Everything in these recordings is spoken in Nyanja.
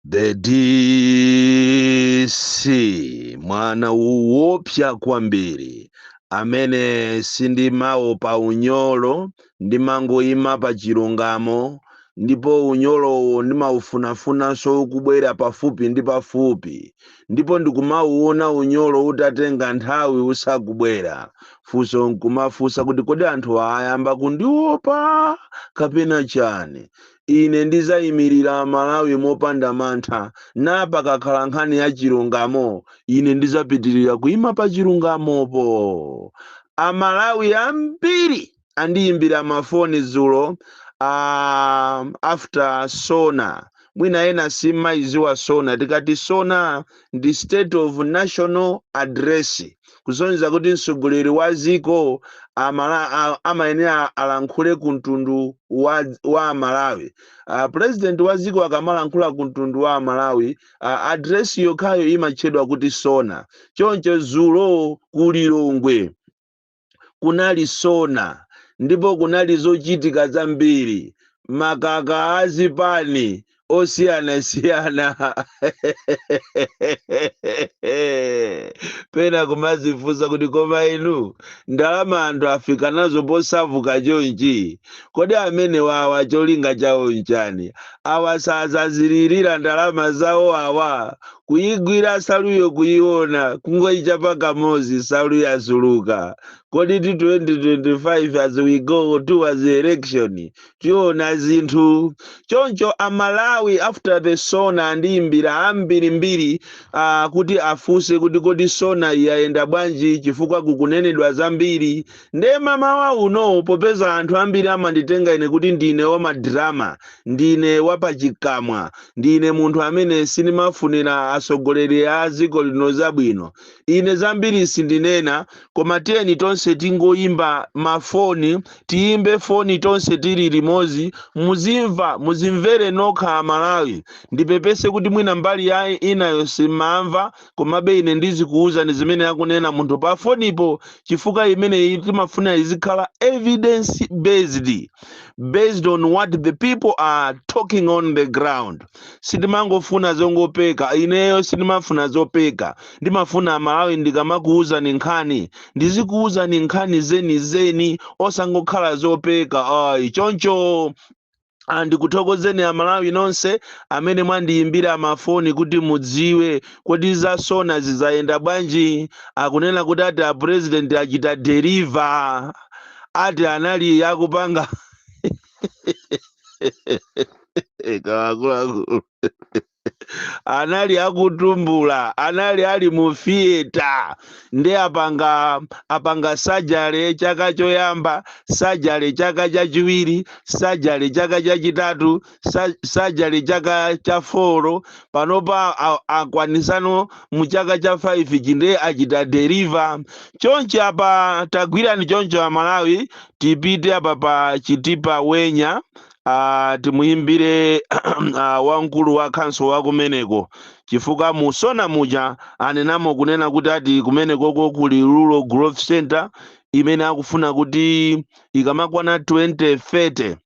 the dc mwana woopsa kwambiri amene sindimaopa unyolo ndimangoyima pa chilungamo ndipo unyolowo ndimaufunafunanso ukubwera pafupi ndi pafupi ndipo ndikumauona unyolo utatenga nthawi usakubwera funso nkumafunsa kuti kodi anthu ayamba kundiopa kapena chani Ine ndidzaimirira Malawi mopanda mantha, ndipo pakakhala nkhani ya chilungamo, ine ndidzapitirira kuima pa chilungamopo. Amalawi ambiri andiimbira mafoni dzulo a after SONA. Mwina ena simmayidziwa SONA. Tikati SONA ndi State of National Address. kusonyeza kuti mtsogoleri wa dziko amala, a, amayenera alankhule ku mtundu wa, wa Amalawi. Uh, president wa dziko akamalankhula ku mtundu wa Amalawi, uh, address yokhayo imatchedwa kuti sona. Choncho dzulo ku Lilongwe kunali sona ndipo kunali zochitika zambiri makaka azipani osiyanasiyana pena kumazifunsa kuti koma inu ndalama anthu afika nazo posavuka chonchi kodi amene wawa cholinga chawo nchani awa sazazilirira ndalama zawo awa kuyigwira saluyo kuyiona kungoyichapa kamozi salu yasuluka kodi ti 2025 as we go towards the election tiona zinthu choncho amalawi after the sona andiyimbira ambirimbiri uh, kuti afunse kuti kodi sona yayenda bwanji chifukwa kukunenedwa zambiri nde mamawa uno popeza anthu ambiri amanditenga ine kuti ndine wamadrama ndine wapachikamwa ndine munthu amene sindimafunira atsogoleri a dziko lino zabwino ine zambiri sindinena koma tiyeni tonse tingoyimba mafoni tiyimbe foni tonse tili limodzi muzimva muzimvere nokha amalawi ndipepese kuti mwina mbali yayi inayo simamva komabe ine ndizikuwuzani zimene akunena munthu pa fonipo chifukwa imeneyi timafuna izikhala evidence based based on what the people are talking on the ground sitimangofuna zongopeka ineyo sindimafuna zopeka ndimafuna amalawi ndikamakuwuzani nkhani ndizikuwuzani nkhani zenizeni osangokhala zopeka ayi choncho Ah, ndikuthokozeni amalawi nonse amene mwandiyimbira mafoni kuti mudziwe kodi zasona zizayenda bwanji akunena kuti ati a president achita deliver ati anali akupanga akuluakulu anali akutumbula anali ali mu fiyeta nde apanga sajale chaka choyamba sajale chaka chachiwiri sajale chaka chachitatu sa- sajale chaka cha foro panopa a- akwanitsano mu chaka cha 5 chimene achita deliver chonchi apa tagwirani choncho amalawi tipite apa pa chitipa wenya uh, timuyimbire uh, wamkulu wa khonsolo wa kumeneko chifukwa mu SONA muja anenamo kunena kuti ati kumenekoko kuli rural growth center imene akufuna kuti ikamakwana 2030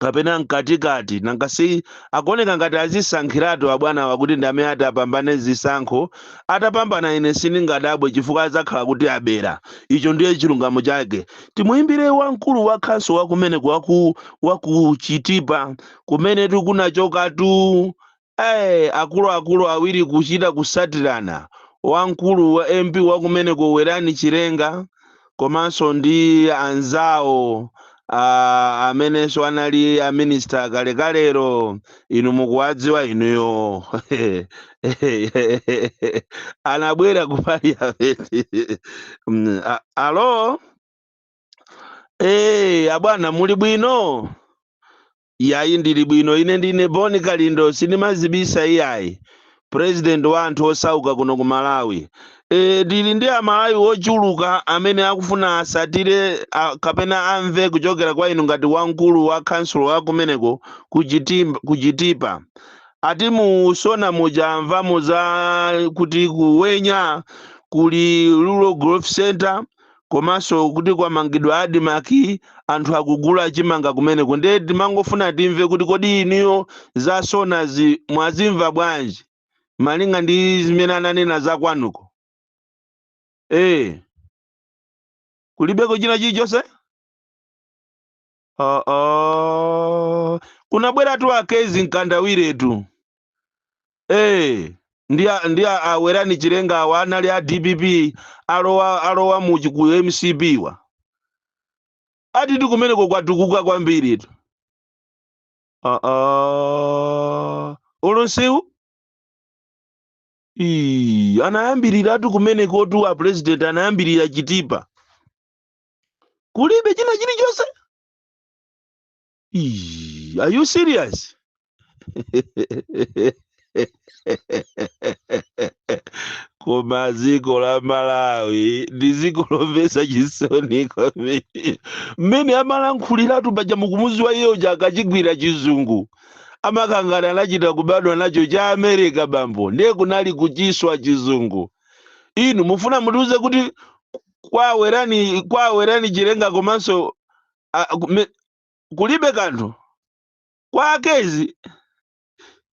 kapena mkatikati nanga si akuoneka ngati adzisankhiratu abwanawa kuti ndi amene ati apambane zisankho atapambana ine sindingadabwe chifukwa adzakhala kuti abera icho ndiye chilungamo chake timuyimbire wamkulu wa khonsolo wakumeneko waku Chitipa kumene tikunachokatu Ayi akuluakulu awiri kuchita kutsatirana wamkulu wa MP wakumeneko Werani Chilenga komanso ndi anzawo a amenenso anali a minister kalekalero inu mukuwadziwa inuyo anabwera ku parliament Mm, a- alo eh abwana muli bwino Iyayi ndili bwino ine ndine Bon Kalindo sindimadzibisa iyayi. President wa anthu osauka kuno ku Malawi. Eee ndili ndi a Malawi ochuluka amene akufuna atsatire a, kapena amve kuchokera kwa inu ngati wamkulu wa khansulo wa kumeneko ku Chitipa. Ati mu Sona muja amvamo za kuti ku Wenya kuli Rural Growth Centre. komanso kuti kwamangidwa admarc anthu akugula chimanga kumeneko ndiye timangofuna timve kuti kodi inuyo za sonazi mwazimva bwanji malinga ndi zimene ananena za kwanuko ee kulibeko china chilichonse Ah, ah. kunabweratu akezi mkandawiretu Eh, ndi a- ndi a- awerani chilenga awa anali a dpp alowa muchi ku mcp wa atitu kumeneko kwatukuka kwambiri tu Ah, ah. olonsewu Ii, anayambiriratu kumenekotu a president anayambirira chitipa kulibe china chilichonse Ii, are you serious koma dziko la malawi ndi dziko lomvetsa chisoni kwambiri mmene amalankhuliratu paja mukumuziwa iye uja akachigwira chizungu amakangana anachita kubadwa nacho cha america bambo ndiye kunali kuchiswa chizungu inu mufuna mutiuze kuti kwa werani kwa werani chilenga komanso a- kume- kulibe kanthu kwa a Kezzie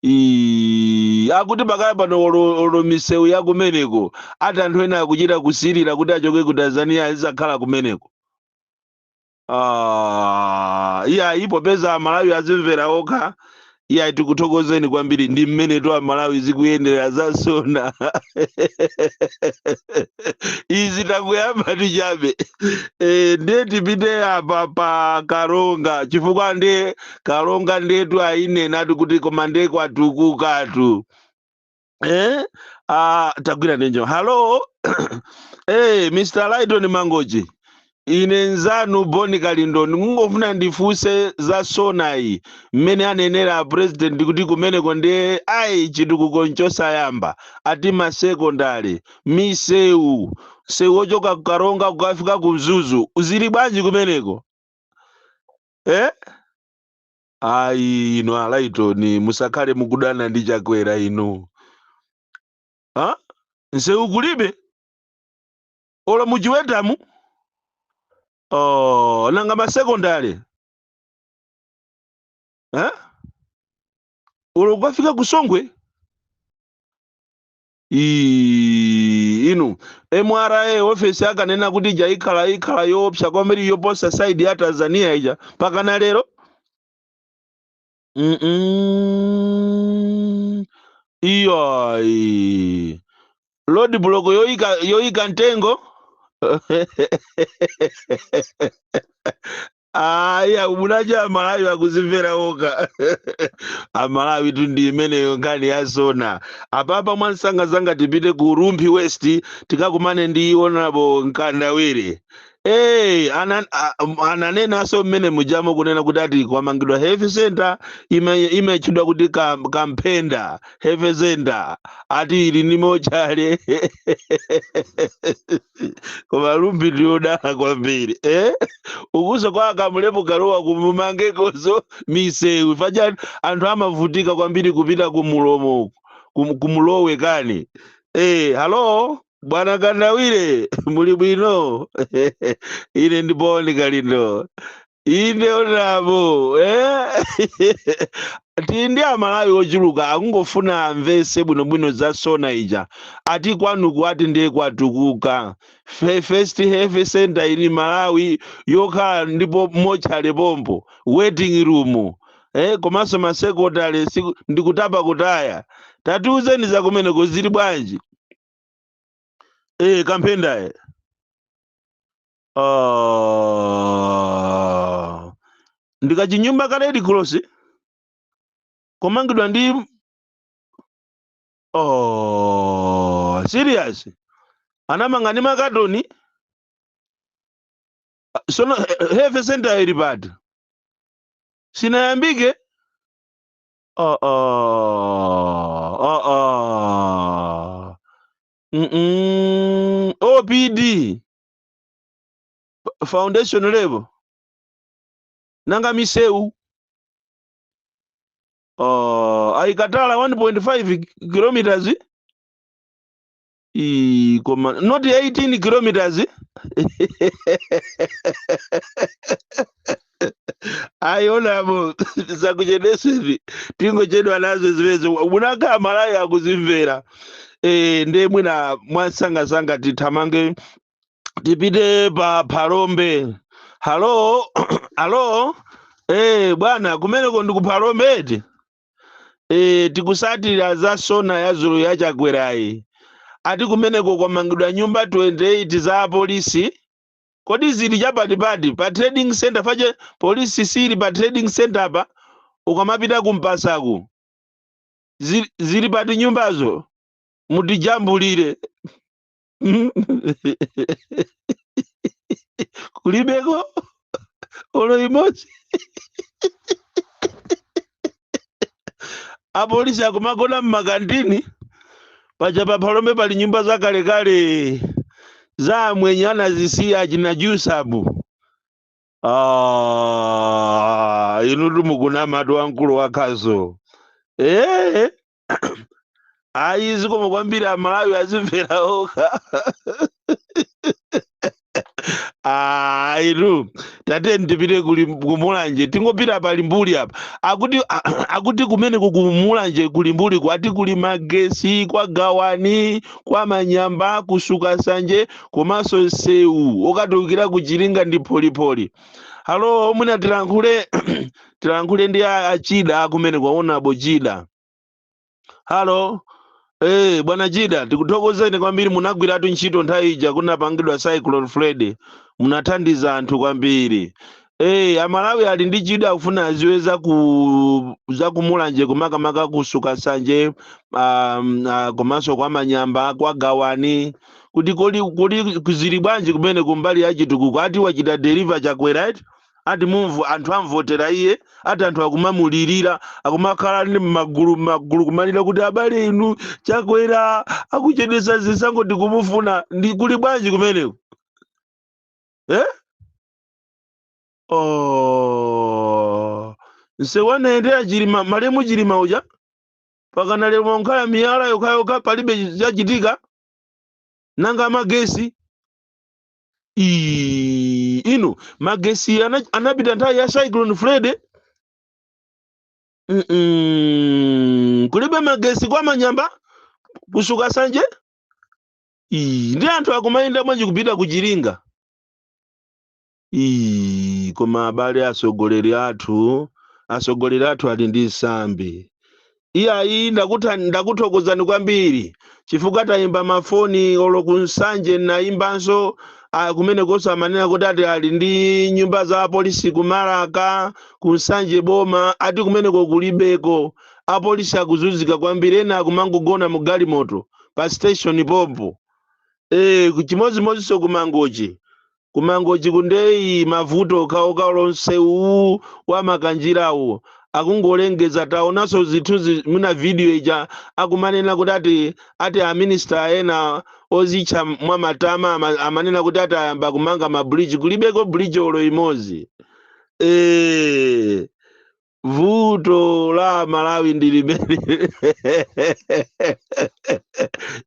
Ii, akuti pakali pano olo olo misewu ya kumeneko ati anthu ena akuchita kusirira kuti achoke ku tanzania azizakhala kumeneko Ah, iyayi popeza amalawi azimvera okha iyayi tikuthokozeni kwambiri ndi mmenetu amalawi zikuyendera za SONA izi takuyambani chabe e, ndiye tipite apa pa karonga chifukwa ndiye karonga ndiyetu ayinenatu kuti koma ndiye kwatukukatu eh? ah, tagwira ndi njo halo hey, eh, mr lighton mangochi ine nzanu Bon Kalindo ndikungofuna ndifunse za sonayi mmene anenera president kuti kumeneko ndiye ayi chitukuko nchosayamba ati masekondale misewu msewu ochoka kukaronga kukafika ku mzuzu zili bwanji kumeneko eh? ayi inu alaitoni musakhale mukudana ndi chakwera inu ha nsewu kulibe olo muchiwetamu oh, nanga masekondale ha olo kukafika kusongwe Iii inu MRA ofesi akanena kuti ija ikhala ikhala yoopsa kwambiri yoposa side ya Tanzania ija mpakana lero mm -mm. iyayi road block yoyika yoyika mtengo ayi munadya amalawi akuzimvera okha amalawitu ndi imeneyo nkhani ya SONA apapa mwansangasanga tipite ku rumphi west tikakumane ndi honorable mkandawire Hey, anan, a- m- ananenanso mmene mujamo kunena kuti ati kwamangidwa health center ime- imetchedwa kuti kam- kamphenda health center ati ili ndi mochale koma rumphi ndiyodala kwambiri eh? ukuso kwa a kamlepo kalua kumumangekoso misewu paja anthu amavutika kwambiri kupita kumulomo uku kum- ku mlowe kani eh, halo bwana kandawire muli bwino ine ndi boni kalindo inde onabo eh? tili ndi amalawi ochuluka akungofuna amvese bwinobwino za sona ija ati kwanuku ati ndiye kwatukuka Fe- first health center in malawi yokhala ndipo mochale pompo waiting room eh, komanso masekondale siku- ndikutapa kutaya tatiuzeni za kumeneko zili bwanji eh, kamphendaye Ah, ndi kachinyumba ka red cross komangidwa ndi oh, serious anamanga ndi makatoni Ah, sono he- health center ili pati sinayambike oh, oh, oh, oh. Mm-mm. opd F- foundation level nanga misewu uh, aikatala 1.5 kilometers Ii, koma not 18 kilometers ayi onabo zakuchedesevi tingochedwa nazo zimenezo mwina akhala amalawi akuzimvera e, ndiye mwina mwansangasanga tithamange tipite pa phalombe halo halo e, bwana kumeneko ndi ku phalombe eti e, tikusatira za sona ya dzulo ya chakwerayi ati kumeneko kwamangidwa nyumba 28 za apolisi kodi zili cha pati pati pa trading centre paja police siili pa trading centre apa ukamapita ku mpasaku Zi- zili pati nyumbazo mutijambulire kulibeko olo imodzi apolisi akumagona mmakantini paja pa phalombe pali nyumba zakalekale za amwenye anazisiya achina jusabu ah, inutu mukunamatu wamkulu wakhazo ee ayi zikomo kwambiri amalawi azimvera okha ayitu tatiyeni tipite kuli kumulanje tingopita pa limbuli apa akuti akuti kumeneku kumulanje ku limbuliku ati kuli magesi kwa gawani kwa manyamba ku sukasanje komanso sewu okatulukira ku chiringa ndi pholipoli halo mwina tilankhule tilankhule ndi a- achida akumene kwa onabo Chida halo Eh, bwana Chida, tikuthokozeni kwambiri munagwiratu ntchito nthawi ija kunapangidwa Cyclone Freddy. Munathandiza anthu kwambiri. Eh, Amalawi ali ndi chidwi akufuna aziwe za ku za ku Mulanje makamaka ku Sukasanje um, uh, komanso kwa Manyamba kwa Gawani kuti kodi kodi kuli bwanji kumene kumbali ya chitukuko ati wachita deliver Chakwera eti ati move anthu amvotera iye ati anthu akumamulirira akumakhala ndi magulumagulu kumalira kuti abale inu Chakwera akuchedwesa zisankho tikumufuna ndi kuli bwanji kumeneko eh? oh. nsewu anayendera Chilima malemu Chilima uja pakana lero mwakhala miyala yokhayokha palibe chachitika nanga magesi Ii, inu magesi ana- anapita nthawi ya cyclone Freddy Mm-mm. kulibe magesi kwa Manyamba ku Sukasanje Ii, ndi anthu akumayenda bwanji kupita ku Chiringa Ii, koma abale atsogoleri athu atsogoleri athu ali ndi nsambi Iyayi ndakuthan ndakuthokozani kwambiri chifukwa taimba mafoni olo ku Nsanje nnaimbanso ah, kumenekonso amanena kuti ati ali ndi nyumba za apolisi ku Marka ku Nsanje boma ati kumeneko kulibeko apolisi akuzunzika kwambiri ena akumangogona mu galimoto pa station pompo eh chimodzimodzinso ku Mangochi ku Mangochi ku ndeyi mavuto okhaokha olo msewu uwu wa Makanjirawu akungolengeza taonaso zithuzi mu video ija akumanena kuti ati ati a minister ena ozitcha mwa matama ama- amanena kuti ati ayamba kumanga ma bridge kulibeko bridge olo imodzi eh vuto la amalawi ndi limene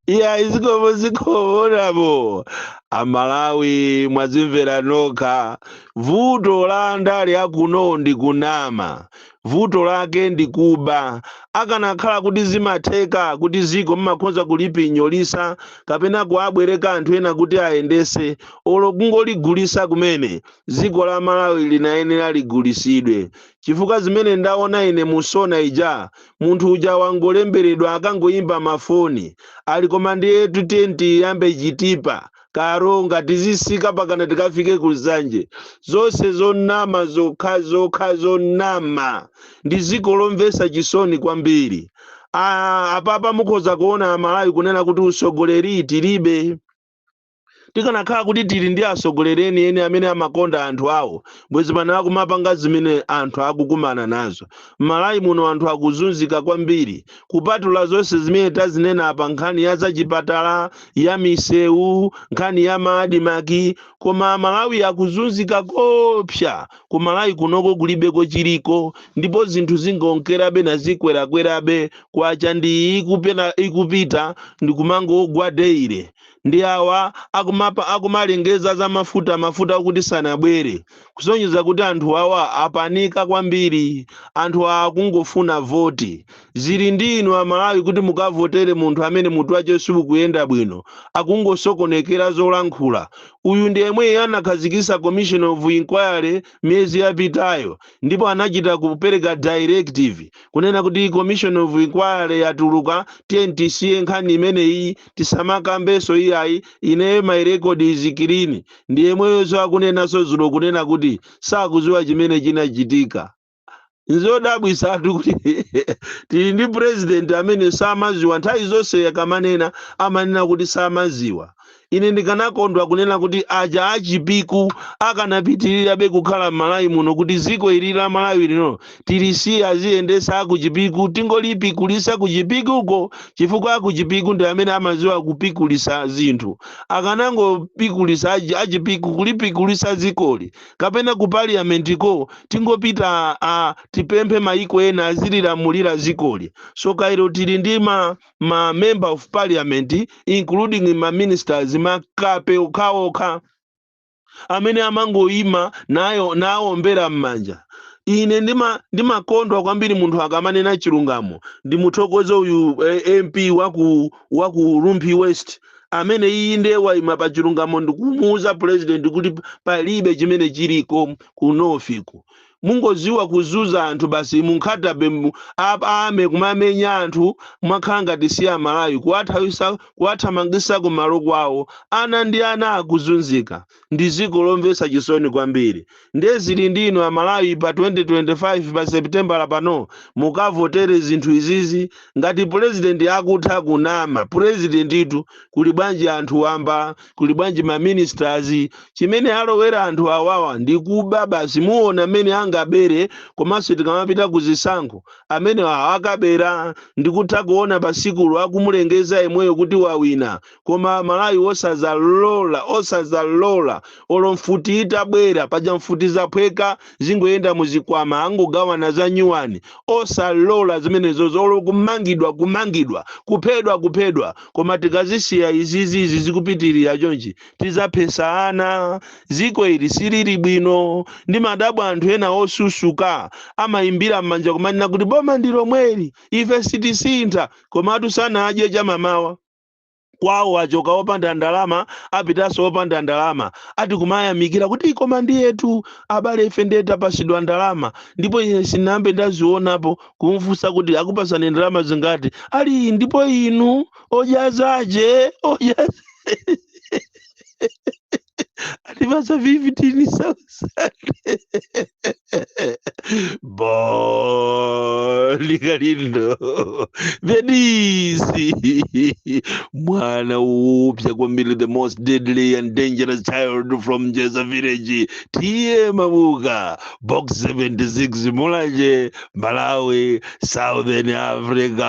iya zikomo zikomo onabo amalawi mwazimvera nokha vuto la andale a kuno ndi kunama vuto lake ndi kuba akanakhala kuti zimatheka kuti ziko mmakhoza kulipinyolisa kapena kuabwereka anthu ena kuti ayendese olo kungoligulisa kumene dziko la Malawi linayenera ligulisidwe chifukwa zimene ndaona ine mu Sona ija munthu uja wangolemberedwa akangoyimba ma foni ali koma ndiyetu tiyeni tiyambe Chitipa, Karonga tizisika pakana tikafike ku Nsanje zonse zonama zokhazokha zonama ndi dziko lomvesa chisoni kwambiri aah apapa mukhoza kuona amalawi kunena kuti usogoleri tilibe. tikanakhala kuti tili ndi atsogoleri enieni amene amakonda anthu awo bwezi pano akumapanga zimene anthu akukumana nazo m'malawi muno anthu akuzunzika kwambiri kupatula zonse zimene tazinena apa nkhani ya zachipatala ya misewu nkhani ya maadimaki koma amalawi akuzunzika koopsa ku malawi kunoko kulibe kochiliko ndipo zinthu zingonkerabe nazikwerakwerabe kwacha ndi ikupena- ikupita ndikumangogwa daily ndi awa akumalengeza za mafuta mafuta okuti sanabwere kusonyeza kuti anthu awa apanika kwambiri anthu awa akungofuna voti zili ndi inu amalawi kuti mukavotere munthu amene mutu wace siukuyenda bwino akungosokonekera zolankhula uyu ndi yemweyo anakhazikisa commission of inquiry miyezi yapitayo ndipo anachita kupereka directive kunena kuti commission of inquiry yatuluka tiyeni tisiye nkhani imeneyi tisamakambeso iyayi ineyo my record is clean ndiyemweyoso akunenaso zulo kunena kuti sakuziwa chimene chinachitika nzodabwisatu kuti tili ndi president amene samaziwa nthawi zonse akamanena amanena kuti samaziwa ine ndikanakondwa kunena kuti aja achipiku akanapitirirabe kukhala m'malawi muno kuti ziko ili la malawi lino tilisiye aziyendesa akuchipiku tingolipikulisa kuchipikuko chifukwa akuchipiku ndi amene amaziwa kupikulisa zinthu akanangopikulisa achi- achipiku kulipikulisa zikoli kapena ku parliament ko tingopita tipemphe maiko ena azililamulira zikoli so kairo tili ndi ma, ma member of parliament including ma ministers makape okhaokha amene amangoyima nawombera mmanja. Ine ndima ndimakondwa kwambiri munthu akamanena chilungamo. Ndimuthokoze uyu eh, MP wa ku wa ku Rumphi West amene iye ndiye wayima pa chilungamo ndikumuwuza president kuti palibe chimene chiliko ku north ku mungoziwa kuzunza anthu basi munkhatabe mu- ap- ame kumamenya anthu mwakhala ngati si amalawi kuwathawisa kuwathamangisa kumalo kwawo ana ndi ana akuzunzika ndi ziko lomvesa chisoni kwambiri ndiye zili ndi inu amalawi pa 2025 pa seputembala pano mukavotere zinthu izizi ngati purezidenti akutha kunama purezidentitu kuli bwanji anthu wamba kuli bwanji ma ministers chimene alowera anthu awawa ndi kuba basi muona mmene angabere komanso tikamapita ku zisankho amene awa akabera ndikutha kuona pasikulu akumulengeza yemweyo kuti wawina koma amalawi osazalola osazalola olo mfuti itabwera paja mfuti zaphweka zingoyenda muzikwama angogawana za nyuwani osalola zimenezo zolo kumangidwa kumangidwa kuphedwa kuphedwa koma tikazisiya izizi izi zikupitirira chonchi tizaphesa ana ziko ili silili bwino ndimadabwa anthu ena osusuka amayimbira m'manja kumanena kuti boma ndi lomweli ife sitisintha komatu sanadye chamamawa kwawo achoka opanda ndalama apitanso opanda ndalama ati kumayamikira kuti koma ndiye tu abale ife ndiye tapasidwa ndalama ndipo ine sinambe ndazionapo kumfunsa kuti akupasani ndalama zingati ali ndipo inu odyazaje odyaza Alipasa vivitini sasa boli kalindo venisi mwana upya kwambiri the most deadly and dangerous child from jeza village tiye mabuka box 76 mulanje malawi southern africa